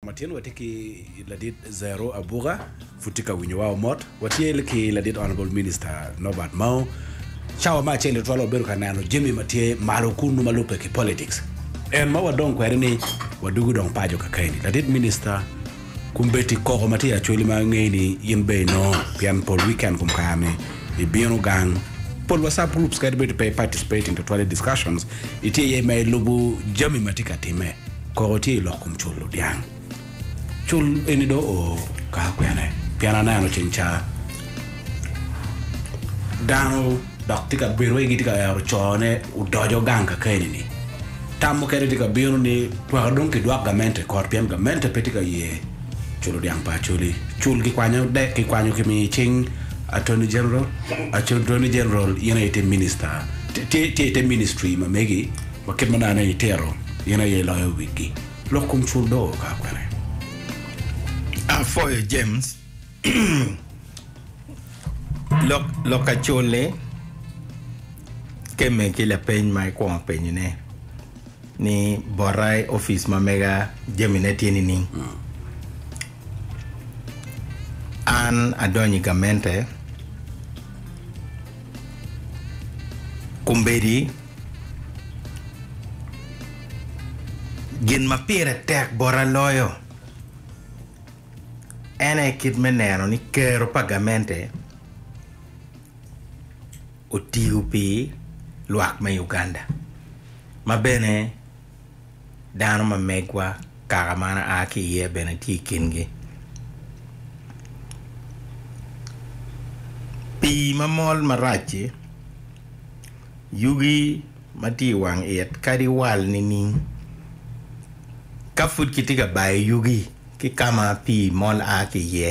Matin watye ki ladit Zero Abuga, pud tye ka winyo wa o mot. Watye ki ladit Honourable Minister Nobert Mao. Cawa me acel tutwalo wabedo ka neno jami ma tye malo kunu ma lubbe ki politics. En ma wadong kwede ni wadugu dong paco kakeni. Ladit Minister, kumbeti koko ma tye i Acholi ma angeyi ni in bene inongo pien pol weekend kum kare ni ibino gang pol wa sub groups kadi bed pe i participate in tutwale discussions, itye iye ma ilubu jami ma tye ka time. Koko tye i lok kom culo dyang. Cul eni do o ka kwene pien aneno cing ca dano dok tye ka bedo wai gitye ka ero cone odoco gang ka keni ni. Tam mukene tye ka bino ni tweka dong ki dwak gamente kot pien gamente pe tye ka ye culo dyang pa Acholi. Cul ki kwanyo dek ki kwanyo ki miyo cing Attorney General, Attorney General in aye ite minister, tye ite ministry ma megi Ma kit ma nongo itito, in aye iloyo wigi. Lok kom cul do ka kwene. Apwoyo James lok lok ka cul ni kemme ki lapeny ma ikwongo penyo ne ni bota i office ma mega jami ne tye nining. An adonyo i gamente kombedi Gin ma pire tek bota loyo en aye kit me neno ni kero pa gamente otiyo pi lwak me Uganda ma bene dano ma megwa, kaka ma an aa ki iye bene tye i kingi. Pii ma mol marac-ci, yugi ma tye i wang it kadi wal nining? Ka pud kitye ka bayo yugi ki ka ma pii mol a ki iye,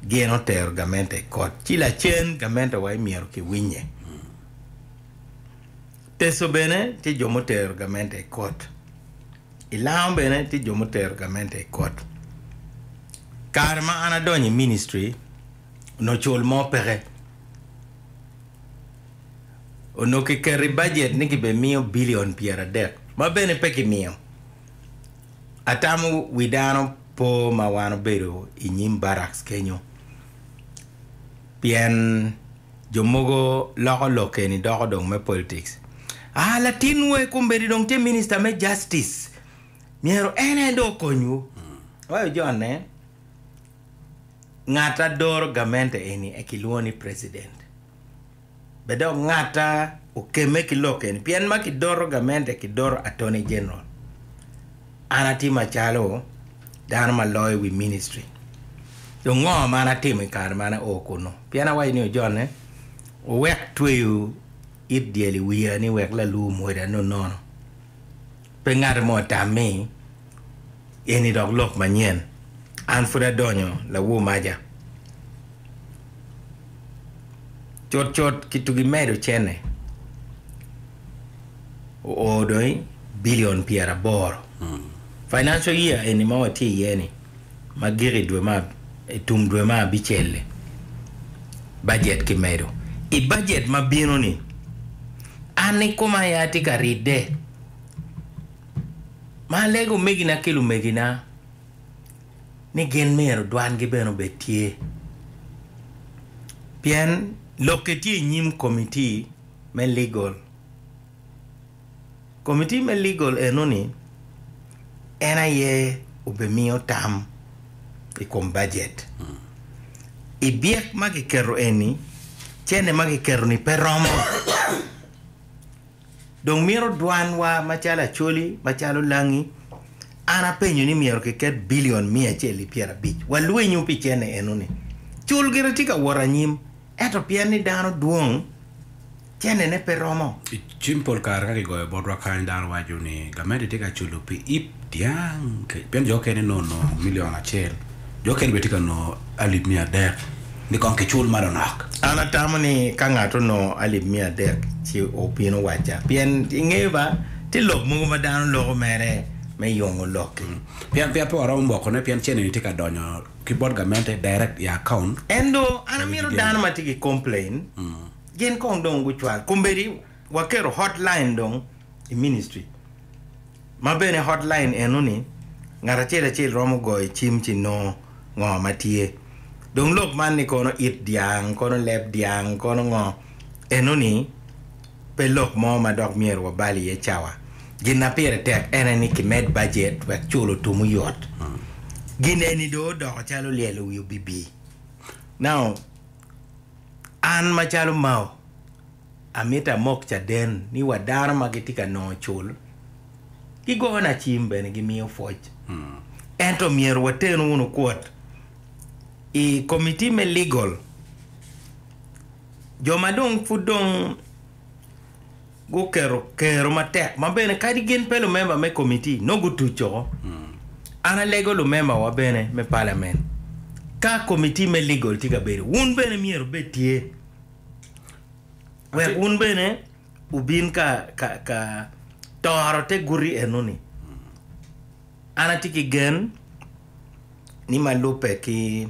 gin otero gamente i kot, ci lacen gamente wa imyero ki winye. Teso bene tye jo mutero gamente i kot. I lango bene tye jo mutero gamente i kot. Kare ma an adonyo i ministry, onongo cul mo peke. Onongo kiketo i bajet ni kibemiyo bilion pyeradek, ma bene pe kimiyo. Atamo wi dano po ma wan obedo i nyim barracks kenyo, pien jo mogo loko lok eni doko dong me politics. Ah, latinwu aye kombeddi dong tye Minister me Justice, myero en aye dong okonywu. Awaco John-ne, Ngat adoro gamente eni aye kilwongo ni President. Bed dok ngata okemme ki lok eni, pien ma kidoto gamente kidoto Attorney General. An atye macalo dano ma loyo wi ministry. Dong ngo ma an atimo i kare ma an ao kunu? Pien awaco ni ojonne, wuwek tweyo it dyel i wiya ni wek lalu omwoda nonono. Pe ngati mo tam ni eni dok lok manyen. An pud adonyo lawo maja. Cut cut kitugi medo cene oo dong i billion pyera aboro. Financial year eni ma watye iye ni ma giko i dwe ma i tum dwe ma abicel-li bajet ki medo. I bajet ma bino ni an ni koma aye atye ka ride. Ma alego omegina ki lumegina ni gin myero dwangi bene obed tye, pien lokke tye i nyim komitti me Legal. Komitti me Legal enoni en aye obimiyo tam i kom bajet. I byek ma kiketo eni, cente ma kiketo-ni pe romo. Dong mito dwanwa macalo Acholi, macalo Langi, an apenyo ni myero kiket bilion miya acel ki pyera abic walwenyu pi cene enoni. Cul gire tye ka wot anyim, ento pien ni dano dwong, cenene pe romo. I cim pol kare ka kigoyo botwa kany dano waco ni gamente tye ka culo pi ip. dyang, pien jo okene nongo nongo milion acel, jo okene bene tye ka nongo alip miya adek, ni kong kicul ma lonok. An atamo ni ka ngat onongo alip miya adek ci obino wacca, pien i nge ba tye lok mogo ma dano loko mere me yongo lok-ki. Pien pe waromo mokone, pien cene-ni tye ka donyo ki bot gamente direct i akaunt. En dong an amito dano ma tye ki complain gin kong dong gucwal kombedi waketo hotline dong. i ministri ma bene hotline eno ni ngat acel acel romo goyo cim ci nongo ngo ma tye dong lok man ni kono it dyang kono leb dyang kono ngo eno ni pe lok mo ma dok myero wa bal iye cawa gin na pire tek ene ni ki med budget wek culo tumu yot gin eni do odoko calo lyelo wi obibi now an ma calo mao Amito amok caden ni wa dano ma gitye ka nongo cul gigona cim bene gimiyo pwoc. Ento myero waten wunu kwot i komiti me legal jo ma dong pud dong guketo kero matek ma bene kadi gin pe lumemba me komiti nongo gutuc oko. An alego lumembawa bene me palament ka komiti me legal tye ka bedo wun bene myero ibed tye. wek wun bene wubin ka, ka, ka toro te guti enoni. An atye ki gen ni ma lubbe ki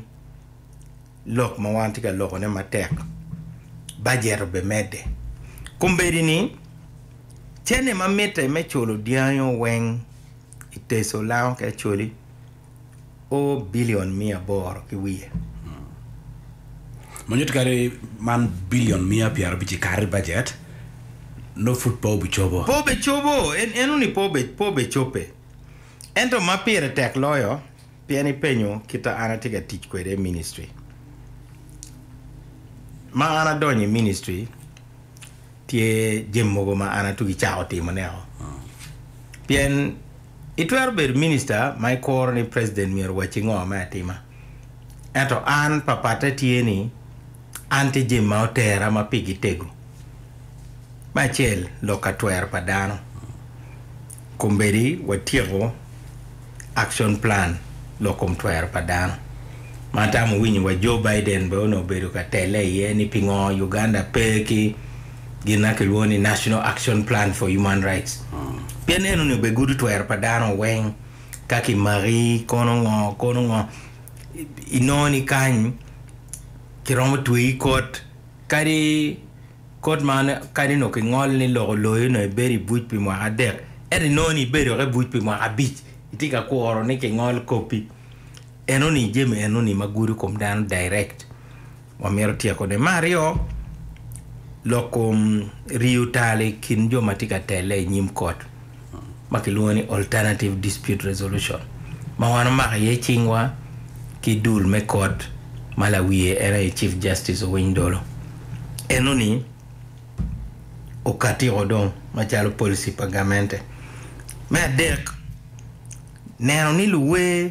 lok ma wan tye ka lokone matek, bajet obimedde. Kombeddi ni, cene ma mitte me culo dyangi-o weng i Teco lango ki Acholi, o bilion miya aboro ki wiye. Ma nyuto kadi man bilion miya pyerabic i kare bajet nongo pud pe obicobo. Pe obicobo, en eno ni pe obicope. Ento ma pire tek loyo, pien ipenyo kita an atye ka tic kwede i ministri. Ma an adonyo i ministri. Tye jami mogo ma an atugi cako timoneo. Pien itwero bedo minista ma ikuro ni preciden myero owacci ngo me atima. Ento an papatte tye ni an tye jami ma otera ma pigi tego. Me acel, lok ka twero pa dano. Kombeddi watyeko Action Plan lok kom twero pa dano ma atamo winyo wa Joe Biden bene onongo obedo ka telle iye ni pingo Uganda pe ki gin ma kilwongo ni National Action Plan for Human Rights. Pien eno ni obe gudo twero pa dano weng ka ki maki kono ngo kono ngo inongo ni kany kiromo tweyi kot kadi Kot man kadi onongo kingolo ni loko loyi onongo ibedo i buc pi mwaka adek, ento inongo ni ibedo woko i buc pi mwaka abic, itye ka kuro ni kingol kopi. Enoni jami enoni ma gudo kom dano direct wamito tyekone. Me aryo, lok kom riyo tal i kin jo ma tye ka telle i nyim kot. ma kilwongo ni Alternative Dispute Resolution ma wan wamako iye cingwa ki dul me kot ma lawiye en aye Chief Justice Owiny Dolo. En oni okatiko dong macalo policy pa gamente. Me adek, neno ni luwer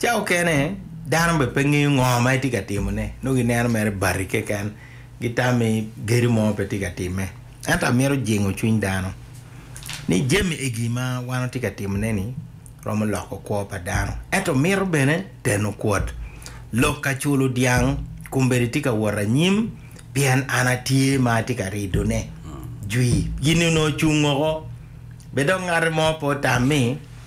Ca okene, dano bene pe ngeyo ngo ma itye ka timone, nongo gineno mere bati keken, gitami gedo mo pe tye ka timme. Ento amito jingo cwiny dano ni jami egi ma wan watye ka timone-ni romo loko kwo pa dano, ento mito bene teno kwot. Lok ka culo dyang kombeddi tye ka wot anyim, pien an atye ma atye ka ridone. Jwi. Gin-ni onongo ocung woko, bed dong ngati mo pe otammi.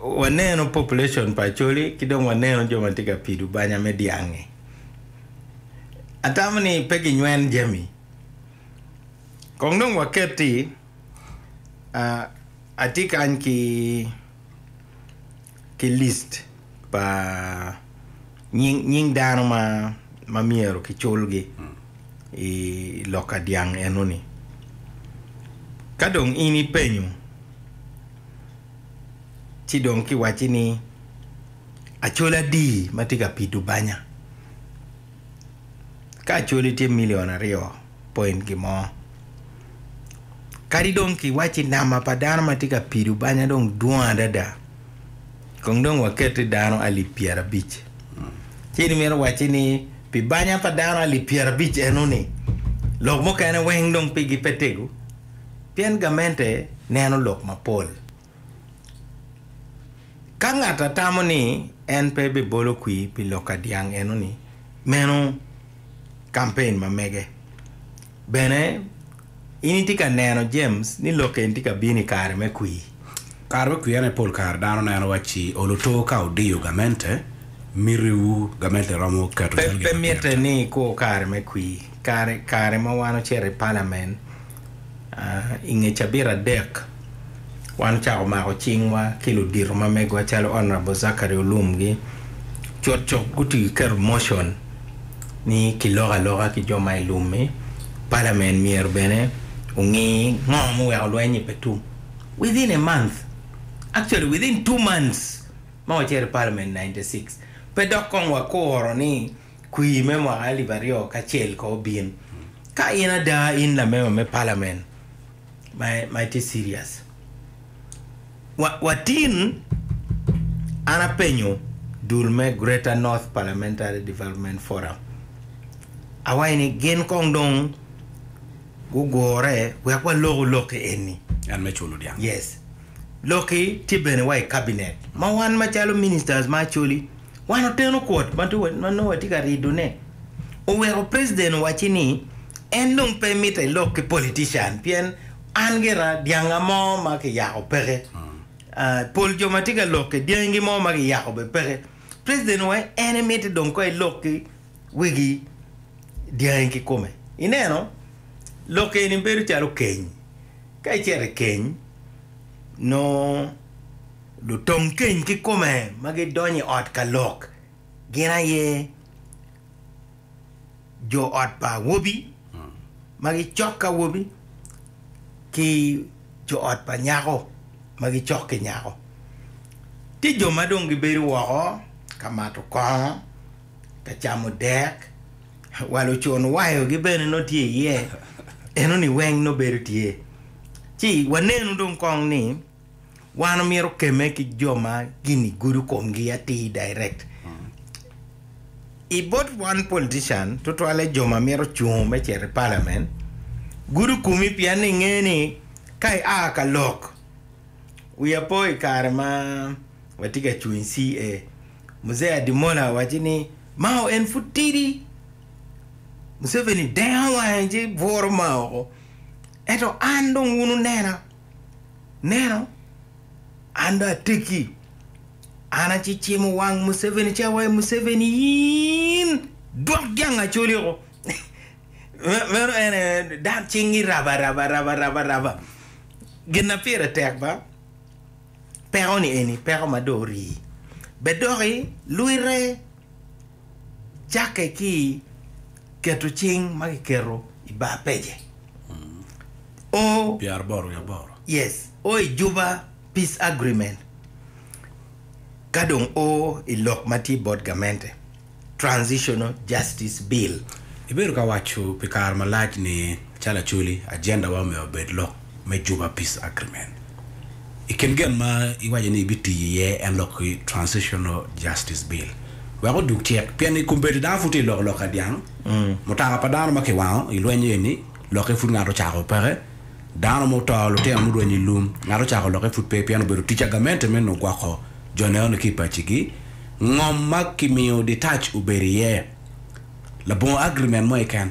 waneno population pa Acholi ki dong waneno jo ma tye ka pido banya me dyangi. Atamo ni pe ginywen jami. Kong dong waket ti, ah, atye kany ki ki list pa nying nying dano ma ma myero kiculgi i loka dyang enoni. Ka dong in ipenyo ci dong kiwacci ni Acholi adi ma tye ka pido banya? Ka Acholi tye milion aryo point gimo, kadi dong kiwacci namba pa dano ma tye ka pido banya dong dwong adada, kong dong waketi dano alip pyerabic. Ci in imito wacci ni pi banya pa dano alip pyerabic eno-ni, lok mukene weng dong pigi pe tego? Pien gamente neno lok mapol. Ka ngat a tamo ni en pe bibolo kwir pi lok ka dyang enoni, meno kampen ma mege. Bene, in itye ka neno, James, ni lok eni tye ka bino i kare me kwir? Kare me kwir ene pol kare dano neno wacci oluto ka odiyo gamente. Mitiwu gamente romo keto calgi i Pe, pe mitte ni ikur kare me kwir. Kare kare ma wan ocito i palamen i nge cabit adek wan ocako mako cingwa ki ludito ma megowa calo Honourable Zachary Olum gi cut cuk guti ki keto motion ni ki lok aloka ki jo ma i lum ni palamen myero bene ongi ngo ma oweko lweny ni pe tum within a month actually within two months ma wacito i palamen 96 pe dok kong wakuro ni Kwir me mwaka alip aryo kacel ko obin ka in ada in lamema me palamen ma itye serious. Wa, watin an apenyo dul me Greater North Parliamentary Development Forum awaci ni gin kong dong gugure wek walok olok-ki enni. En me culo dyang. Yes. Lok-ki tye bene wa i kabinet ma wan macalo ministers ma Acholi wan oteno kwot ma nongo watye ka ridone. Oweko President owacci ni en dong pe mitte elok ki politician pien an gira dyanga mo ma kiyako peke. Pol jo ma tye ka lokke dyangi mo ma kiyako bene peke. President oweko en mitte dong kong elok ki wegi dyangi kikome. Ineno? Lok eni bedo calo keny. Ka icito i keny, nongo lutom keny kikome ma gidonyo i ot ka lok gin aye jo ot pa awobi ma gicok ki awobi ki jo ot pa nyako ma gicok ki nyako. Tye jo ma dong gibedo woko ka mato kongo, ka camo dek. Wa lucun wayo gi bene nongo tye iye eno ni weng nongo bedo tye ci wa nenu dong kong ni wan omyero keme ki jo ma gini gudo kom gi atir direct i bot wan politician tutwale jo ma mito cung me cito i parliament gudo komi pien ni nge ni ka i a ka lok wi apo i kare ma wa tye ka cung CA Mzee Adimona waco ni Mao en pud tidi. Museveni dengo wange ci bworo Mao oko. Ento an dong wun wunena. Neno, an dong atekki. An acicimo wang Museveni ci awaco Museveni in dwok jang acoli oko. Meno en aye dang cingi raba raba raba raba raba. Gin na pire tek ba. Peko-ni eni peko ma dong orii. Bed dok ilwite cakke ki i keto cing ma kiketo i bar pec-ce. O, yes, o i juba peace agreement ka dong o i lok ma tye bot gamente. Transitional Justice Bill. Ibedo ka waco pi kare malac ni calo Acholi, agenda wa omyero obed lok me Juba Peace Agreement. I kin gen ma iwaco ni ibitiyo iye en lok ki Transitional Justice Bill. Wek odug tyek pien i kombeddi dano pud tye ka loko lok ka dyang, mutoka pa dano ma kiwango i lweny eni lokke pud ngat ocako peke, Dano ma oto, lutino murwenyo i lum, ngat ocako lokke pud pe pien obedo tic agamente me nongo gwoko jo neno-ni ki i pacigi. Ngom ma kimiyo ditac obedo iye labongo agirimen mo keken.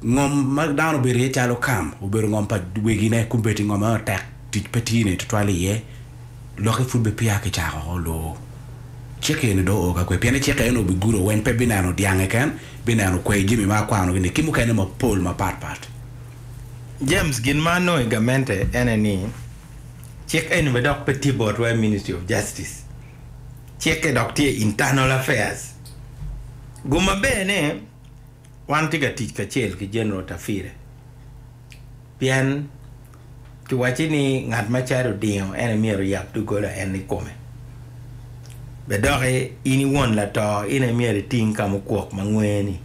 Ngom ma dano obedo iye calo kam obedo ngom pa wegine kun bedi ngom eno tek tic pe tye ne tutwal iye. lokke pud be peya kicako lubo cik eni dong oo kakwe pien i cik eno bigudo weny pe bineno dyang keken bineno kwer jami ma akwano gi ni ki mukene mapol mapat pat. James gin ma anongo i gamente ene ni cik eni be dok pe tye botwa i ministry of justice cikke dok tye i internal affairs gu maber ne wan tye ka tic kacel ki general tafire pien kiwacci ni ngat ma cadi odingo en aye myero oyab doggola en nikome. Bed doki in i won lato in aye myero iting ka mukwok ma ngwe-ni.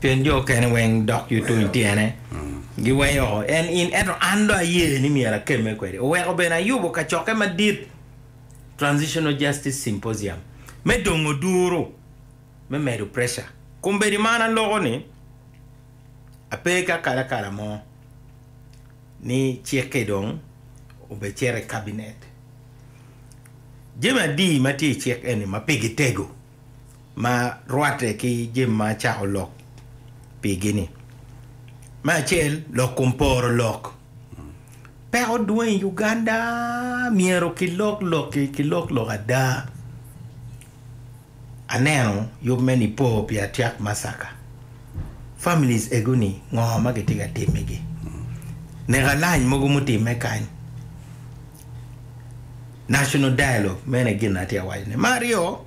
Pien jo okene weng dok yutony tyene giweyo oko en in, ento an dong aye ni myero akemme kwede. Oweko bene ayubo kacokke madit, Transitional Justice Symposium, me dongo duru me medo preca. Kombeddi man aloko ni. Ape ki akalakala mo ni cik-ki dong obecito i Kabinet. Jami adi ma tye i cik eni ma pigi tego ma rwatte ki jami ma acako lok pigi-ni? Me acel, lok kom poro lok. Peko dwong i Uganda, myero kilok lok-ki, kilok lok ada. Aneno yub me Nipo pi Atiak Massacre. Families egoni ngo ma gitye ka timme gi? Nek alany mogo mutimme kany. National Dialogue mene gin na atye ka waco ne. Me aryo,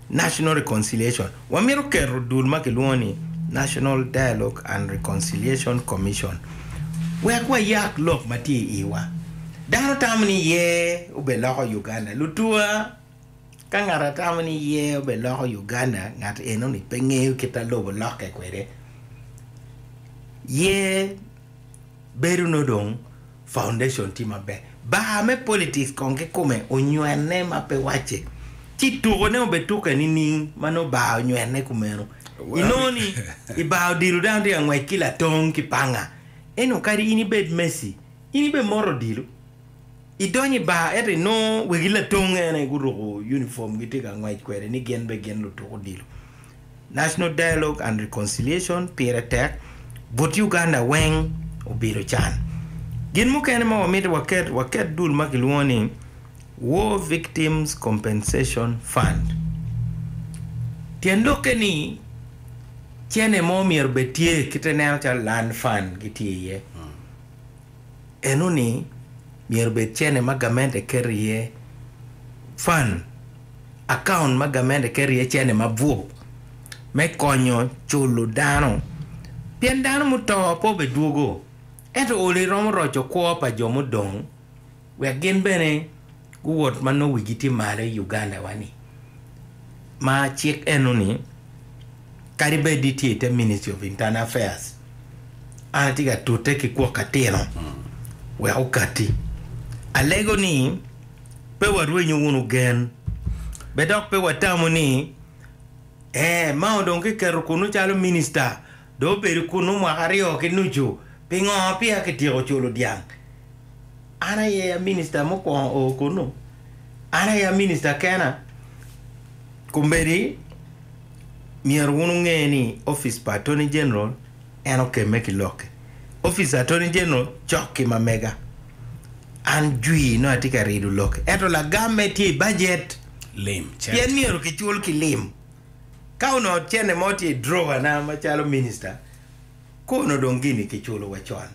National Reconciliation. Wa mito keto dul ma kilwongo ni National Dialogue and Reconciliation Commission wek wa yak lok ma tye i iwa. Dano tamo ni yer obed loko Uganda. Lutua. Ka ngat a tamo ni ye obe loko Uganda ngat eno ni pe ngeyo kit a lobo lokke kwede. Ye bedo no dong foundation tye maber. Bar me politics kong ki kome onywene ma pe wacce. Ci tuko ne obe tuke nining ma nongo bar onywene kumeno. I nongo ni i bar odilo dano tye ka ngwec ki latong ki panga. Eno kadi in ibed Messi in ibe moto odilo. Idonyo i bar ento inongo wegi ladong ene guruko unifom gitye ka ngwec kwede ni gin bene gin lutuk odilo. National Dialogue and Reconciliation pire tek but Uganda weng obedo can. Gin mukene ma wamito waket, waket dul ma kilwongo ni War Victims Compensation Fund. Tyen lokke ni cene mo myero bed tye kite neno calo Land Fund gitye iye. enoni myero obed cene ma gamente keto iye fund, account ma gamente keto iye cene mabup me konyo culo dano pien dano muto pe obedwogo ento oli romo roco kwo pa jo mudong. wek gin bene guwot ma nongo wigi tye malo i Uganda-wa-ni, ma cik eno ni kadi bed ni tye i te Ministry of Internal Affairs, an atye ka tute ki kwok atino wek okatti. Alego ni pe warwenyo wunu gen, bed dok pe watamo ni, Ee, mao dong kiketo kunnu calo Minista, Dong obedo kunnu mwaka aryo ki nucu. Pingo peya kityeko culo dyang? An aye a minista mukwongo oo kunnu. An aye a minista kena. Kombeddi, myero wun wunge ni opic pa Attorney General en okemme ki lokke. Opic Attorney General cok ki mamega. An jwi nongo atye ka rido lokke, ento lagamme tye i bajet. Lim, cent. Pien myero kicul ki lim. Ka onongo cene mo tye i drawer na macalo minister kono dong gini kiculo wa con.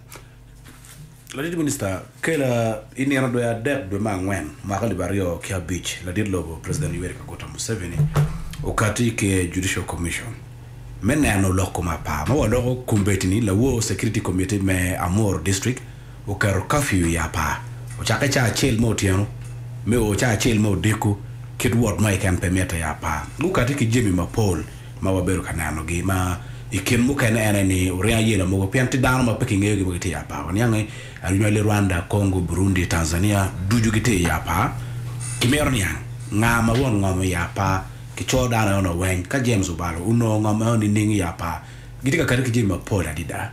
Ladit Minister, kela i nino dwe adek dwe me angwen mwaka alip aryo ki abic, ladit lobo President Yoweri Kaguta Museveni okati i ker Judicial Commission me neno lok kom apar ma waloko kombeddi ni lawor Security Committee me Amuru District, oketo kafiu i apar ocakke cawa acel me otyeno me o cawa acel me odiko kit wot mo keken pe mitte i apar. Gukati ki jami mapol ma wabedo ka nenogi ma i kin mukene en aye ni oringo ayela mogo pien tye dano ma pe kingeyogi ma gitye i apar. Waniang ni Aryuma li Rwanda, Congo, Burundi, Tanzania ducu gitye i apar. Kimito niang nga ma won ngom i apar ki co dano eno weng ka James obalo onongo ngom eno nining i apar. Gitye ka kati ki jami mapol adida.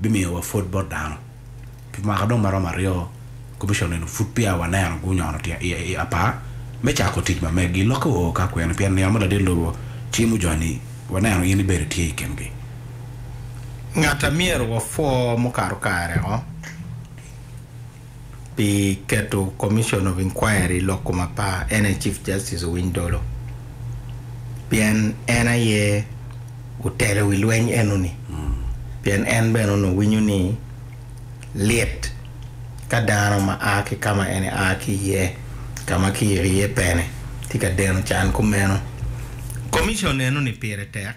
bimiyowa pwod bot dano. Pi mwaka dong maromo aryo, Komicon eni pud peya waneno gunyono tyen i i apar me cako tic ma megi. Lokke wa oo ka kwene pien niang ma ladit lobo cimo joni waneno in ibedo itye i kingi. Ngat a myero wapwo mukato kare-ngo? pi keto Commission of Inquiry i lok kom apar en aye Chief Justice Owiny Dolo pien en aye otelo i wi lweny enoni pien en bene onongo winyo ni lit ka dano ma a ki ka ma en a ki iye ka ma kiyiko iye pene tye ka deno can kumeno. Commission enoni pire tek.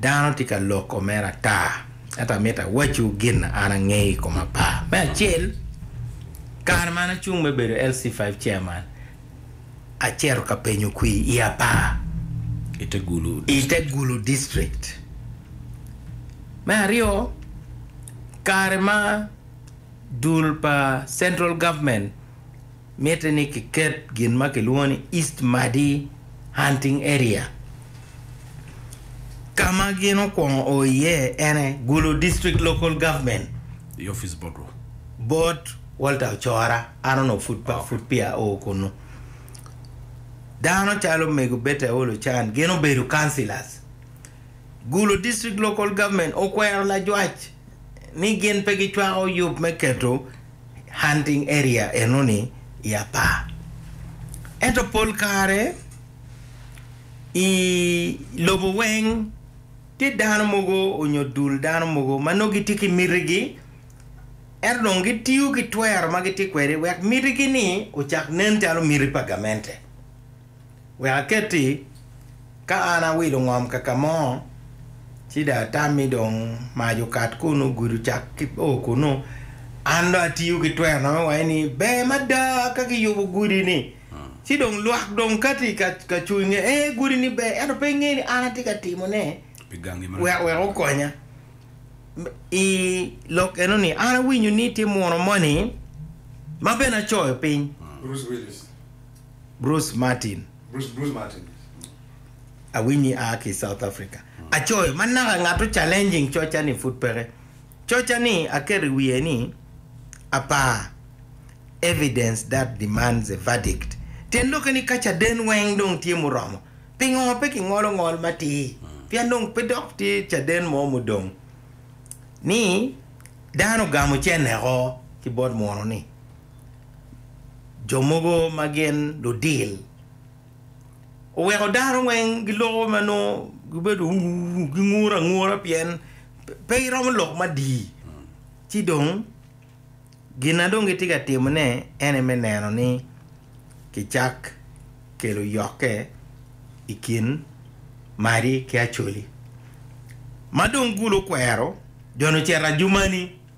Dano tye ka loko mere ata, ento amito awacciwu gin an angeyo i koma pa. Me acel, kare ma an acung me bedo LC5 Chairman, acito ka penyo kwir i Apaa, i te Gulu i te District. Gulu District. Me aryo, kare ma dul pa Central Government, Mitte ni kiket gin ma kilwongo ni East Madi Hunting Area. Ka ma gin okwongo o iye ene Gulu District Local Government. I opic bot wo. Bot Walter Ocora, an onongo pud pa pud peya ao kunnu. Dano calo omego Betty Aol Ocan gin obedo councillors. Gulu District Local Government okwero lajwac ni gin pe gicwako yub me keto hunting area enoni i apar. Ento pol kare i lobo weng tye dano mogo onyo dul dano mogo ma nongo gitye ki miti gi ento dong gitiyo ki twero ma gitye kwede wek miti gi ni ocak nen calo miti pa gamente. Wek aketti, ka an awilo ngom kakamo, ci dong atammi dong mac okat kunu, gudo cak ki oo kunu. An dong atiyo ki twero na me waci ni, Ber mada ka kiyubo gudi-ni, ci dong lwak dong kati ka cung nge, Ee, gudi-ni ber, ento pe inge ni an atye ka timone wek wek okonya. I lok eno-ni, an awinyo ni tye muno moni ma bene acoyo piny. Bruce Martin. Bruce, Bruce Martin. Awinyi aa ki South Africa. Acoyo, man naka ngato challenging coca ni pud peke. Coca ni aketo i wiye ni apar, evidence that demands a verdict. Tyen loke ni ka caden weng dong tye muromo, pingo pe ki ngolo ngol matir? Pien dong pe dok tye caden mo mudong. Ni dano ogamo cene o ki bot muno ni. jo mogo ma gin ludil oweko dano weng giloko ma nongo gibedo ur gingure angura pien pe giromo lok madii ci dong gin ma dong gitye ka timone en aye me neno ni kicak kelo yokke i kin Mari ki Acholi ma dong gulu kwero joni ocito ajumani.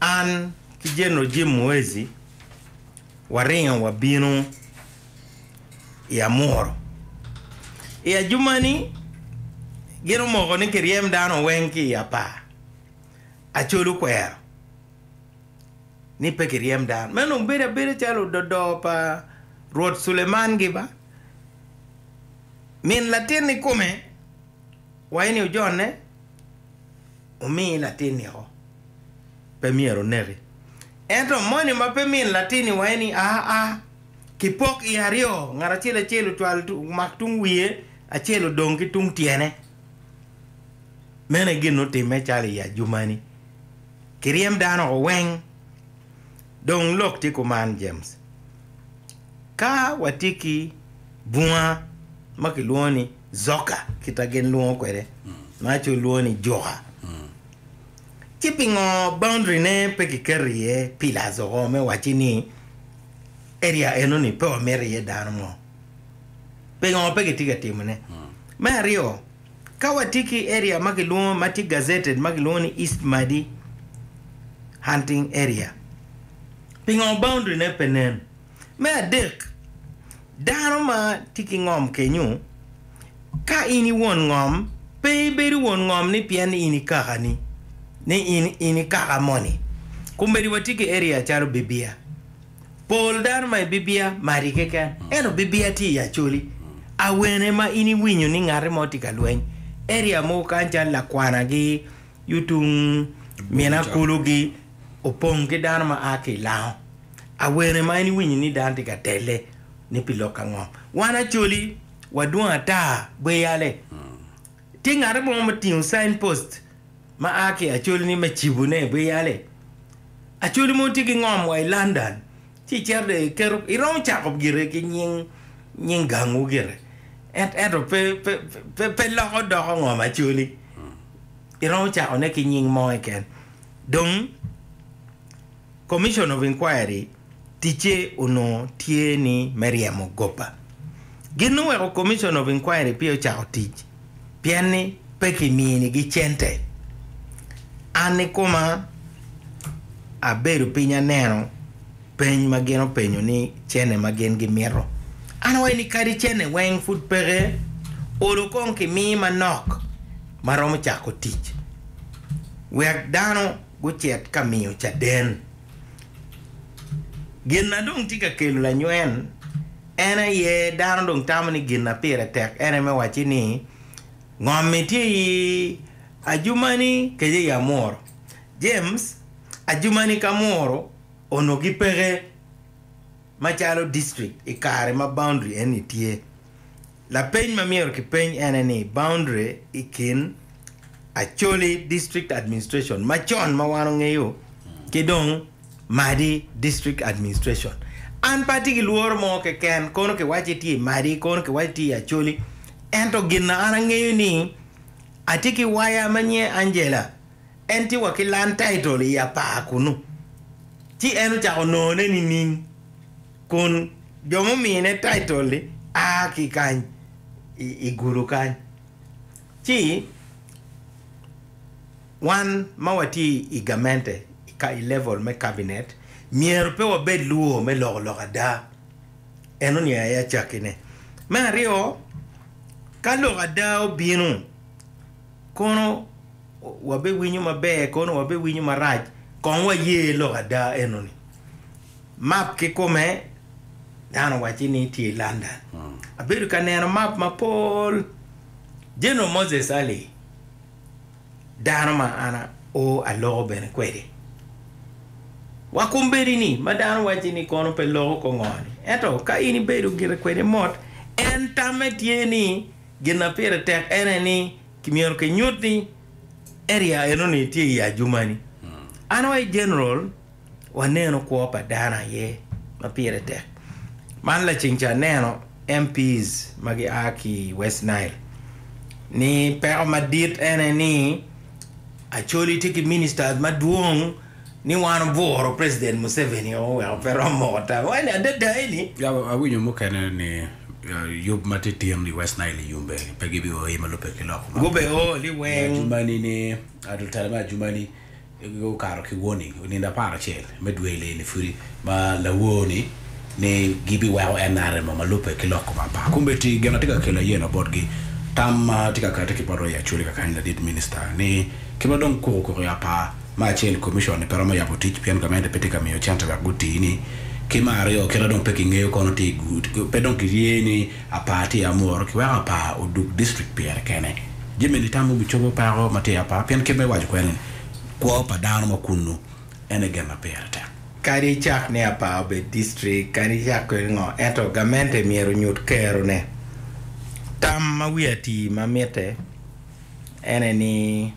an ki Jeneral Jim Muhwezi waringo wabino i Amuru. I ajumani, gin omoko ni kiryem dano weng ki i apar. Acol okwero ni pe kiryem dano. Meno dong bedo abeda calo ododo pa Rwot Suleman giba. Min latin ikome wayi ni ojonne. Omi latin niko, pe myero oneki. Ento moni ma pe min latin iwaye ni, Aa, kipok i aryo, ngat acel acel ocwal omak tung wiye, acel odong ki tung tyene. Meno aye gin otimme calo i ajumani. Kiryem dano oko weng. Dong lok tye kuman, James. Ka watye ki bunga ma kilwongo ni Zoka, kita gin lwongo kwede ma aco lwongo ni juka, ci pingo boundary ne pe ki keto iye pillars oko me wacci ni area eno ni pe wa mito iye dano mo? Pingo pe ki tye ka timo ne? Me aryo, ka wa tye ki area ma ki lwongo ma tye gazetted ma ki lwongo ni East Madi hunting area, pingo boundary ne pe nen? Me adek, dano ma tye ki ngom kenyu, ka in i won ngom, pe ibedo won ngom ni pien in i kakani, ni in i kaka moni. Komedi watye ki area calo Bibia. Pol dano ma i Bibia madi keken, ento Bibia tye i Acholi. Awene ma in iwinyo ni ngati mo tye ka lweny? Area mogo kany calo Lakwanagi, Yutung, Minakulugi opong ki dano ma a ki i Lango. Awene ma en iwinyi ni dano tye ka telle ni pi lok ango? Wan Acholi wadwong ata bwe yale. Tye ngate mo ma otingo sign post ma a ki Acholi ni me cibo ne bwe yale? Acholi mogo tye ki ngom wa i London ci icito dong iketo iromo cako gire ki nying nying gangwu gire en ento pe pe pe pe loko doko ngom Acholi iromo cako ne ki nying mo keken dong Commission of Inquiry ticce onongo tye ni me ryemo goba. Gin oweko Commission of Inquiry peya ocako tic pien ni pe kiminigi cente. An ikoma abedo piny aneno peny ma gin openyo ni cene ma gin gimito. An awaco ni kadi cene weng pud peke, olo kong kimi manok ma romo cako tic wek dano. gucit ka miyo caden. Gin ma dong tye ka kelo lanywen en aye dano dong tamo ni gin ma pire tek en aye me wacci ni ngom-mi tye i ajumani kec aye amuru. James, Ajumani ki amuru onongo gipeke macalo district i kare ma boundary eni tye. Lapeny ma myero kipeny ene ni, Boundary i kin Acholi District Administration macon ma wan ongeyo ki dong Madi District Administration. An pe atye ki lworo mo keken kono kiwacce tye i Madi kono kiwacce tye i Acholi ento gin an angeyo ni atye ki waya ma nyinge Angela en tye wa ki land title i apar kunu ci en ocako nongone nining? Kun jo mumine taitol-li a ki kany i gudo kany, ci wan ma watye i gamente i level me kabinet myero pe wabed luwor me loko lok ada. Eno ni aye acakkine. Me aryo, ka lok ada obino, kono wabiwinyo maber kono wabiwinyo marac, kong waye lok ada eno-ni. Map kikome, Dano owacci ni itye i London. Abedo ka neno map mapol. General Moses Ali, dano ma an o aloko bene kwede. Wa kombeddi ni, ma dano wacci ni kono pe loko ko ngo-ni. Ento ka in ibedo gire kwede mot, en tamme tye ni gin ma pire tek en aye ni kimyero kinyut ni area eno-ni tye i ajuma-ni. An wa i General waneno kwo pa dano aye ma pire tek. Man laceng ca aneno MP's ma gia ki i West Nile ni peko madit en aye ni Acholi tye ki ministers madwong ni wan obwuro president Museveni o weko pe rom moko tawe. Eni adada eni. Ya awinyo mukene ni uh, yub ma tye tin i West Nile i yumbe pe gibi o i ma lubbe ki lok man. Gube o li weng. Ajumani ni, uh, lutela me Ajumani Gukato ki warning onindo apar acel me dwe leni pudi ma lawor ni ni gibi weko nrm ma lube ki loko ma par kun bedi gin atye ka kelo ayena bot gi tam ma tye ka kati ki bot Roya Acholi kakany ladit minista ni ki ma dong kuku kuku ya par ma acel commission ni pe romo yabo tic pien gamente pe tye ka miyo cente wek guti ni ki ma aryo kit adong pe ki ngeyo kono tye pe dong ki rye ni Apar tye amor ki weko apar odug district pire kene. Jami eni tamo bicobo peko ma tye apar pien kit ma iwaco kwede ni kwo pa dano ma kunnu en aye gin ma pire tek. Kadi icak ni apar obed district, kadi icak kwede ngo, ento gamente myero onyut kero ne. Tam ma wiye atii ma mitte ene ni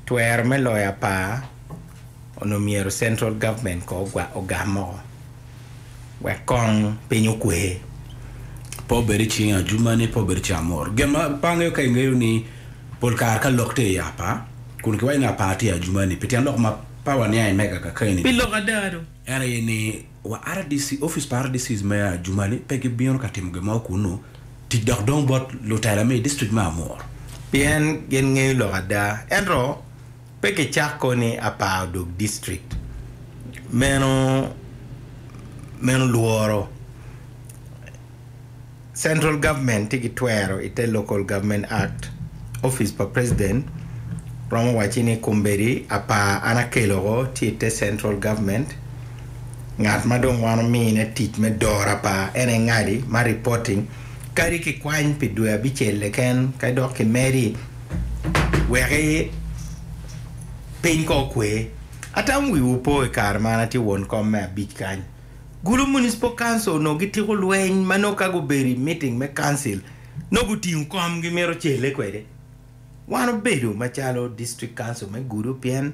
twero me loyo apar Onongo myero central government ko ogwa ogam moko wek kong piny okwe. Pe obed i cing ajuma ni pe obed i cing amor. Gin ma pe angeyo ka ingeyo ni pol kare ka lok tye i apa kun kiwaco ni apa tye ajuma ni pi tyen lok ma pe waniang i mega kakeni Pi ni lok ada do. en aye ni wa rdc office pa rdc me ajuma ni pe gibino ka timo gin mo kunu tic dok dong bot lutela me i district me amor. Pien gin ngeyo lok ada ento. Pe kicak ko ni aparo dog district meno meno lworo Central government tye ki twero ite Local Government Act office pa president romo wacci ni kombeddi apar an akelo ko tye ite Central government ngat ma dong wan omine tic me doro apar en aye ngadi ma reporting kadi kikwany pi dwe abicel keken kadi dok kimedi weke piny kong okwe. Atamo wiwu opo i kare ma an atye won kom me abic kany. Gulu Municipal Council onongo gitiko lweny ma nongo ka gubedo i meeting me council nongo gutingo kom gimito celle kwede. Wan obedo macalo District Council me Gulu pien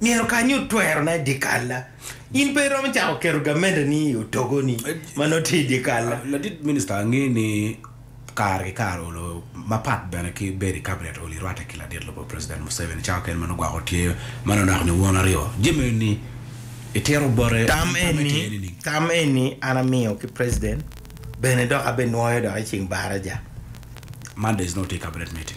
myero kanyo otwerona i dyekal-la. In pe iromo cako keto gamenani i otogoni ma nongo tye i dyekal-la. Ladit minista ange ni kare ki kare olo mapat bene ki bedo i Kabinet olo i rwatte ki ladit lobo President Museveni cawa kene ma nongo gwoko tye ma nongo onako ni won aryo. Jami eni itito bote nining? Tam eni an amiyo ki President bene dok abenwoyo dok i ceng baraja. Mondays nongo tye i Kabinet meeting.